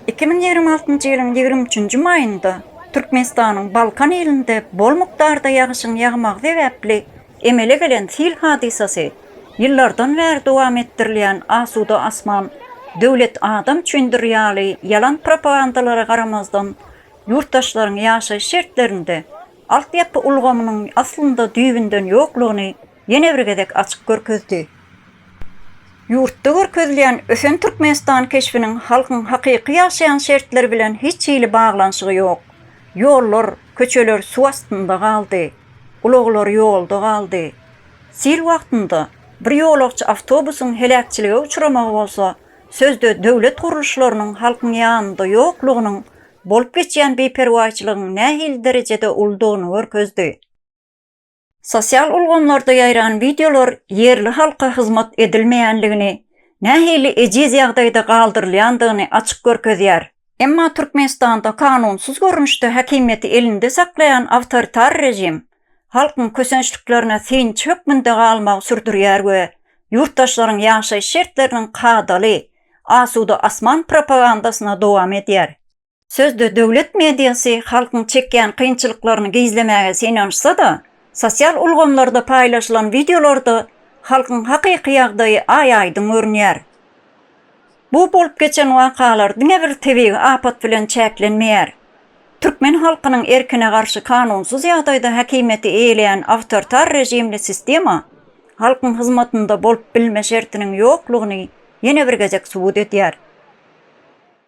Iki müň ýigrimi altynjy ýylyň ýigrimi üçünji maýynda Türkmenistanyň Balkan ilinde bol mukdarda ýagyşyň ýagmagy sebäpli Emele gelen sil hadysasy ýyllardan bäri dowam etdirilýän asuda asman, döwlet adam üçindir ýaly ýalan propagandalara garamazdan, ýurtdaşlaryň ýaşaýyş şertlerinde altyapy ulgamynyň aslynda düýbünden ýoklugyny ýene bir gezek açyp görkezdi. Ýurtda görkezilýän ösen Türkmenistan keşbiniň halkyň hakyky ýaşaýan şertleri bilen hiç hili baglanyşygy ýok. Ýollar, köçeler suw astynda galdy, ulaglar ýolda galdy. Sil wagtynda bir ýolagçy awtobusyň heläkçilige uçramagy bolsa, sözde döwlet gurluşlarynyň halkyň ýanynda ýoklugynyň bolup geçýän biperwaýçylygyň nähili derejede uludygyny görkezdi. Sosial ulgamlarda ýaýran wideolar ýerli halka hyzmat edilmeýänligini, nähili ejiz ýagdaýda galdyrylýandygyny açyk görkezýär. Emma Türkmenistanda kanunsyz görnüşde häkimiýeti elinde saklaýan awtoritar režim halkyň kösençliklerine synçy hökmünde galmagy sürdürýär we ýurtdaşlaryň ýaşaýyş şertleriniň kadaly, asuda asman propagandasyny dowam edýär. Sözde döwlet mediasy halkyň çekýän kynçylyklaryny gizlemäge synanyşsa-da, sosial ulgamlarda paýlaşylan wideolarda halkyň hakyky ýagdaýy aý-aýdyň görünýär. Bu bolup geçen wakalar diňe bir tebigy apat bilen çäklenmeýär. Türkmen halkynyň erkine garşy kanunsyz ýagdaýda häkimiýeti eýeleýän awtoritar režimli sistema halkyň hyzmatynda bolup bilme şertiniň ýoklugyny ýene bir gezek subut edýär.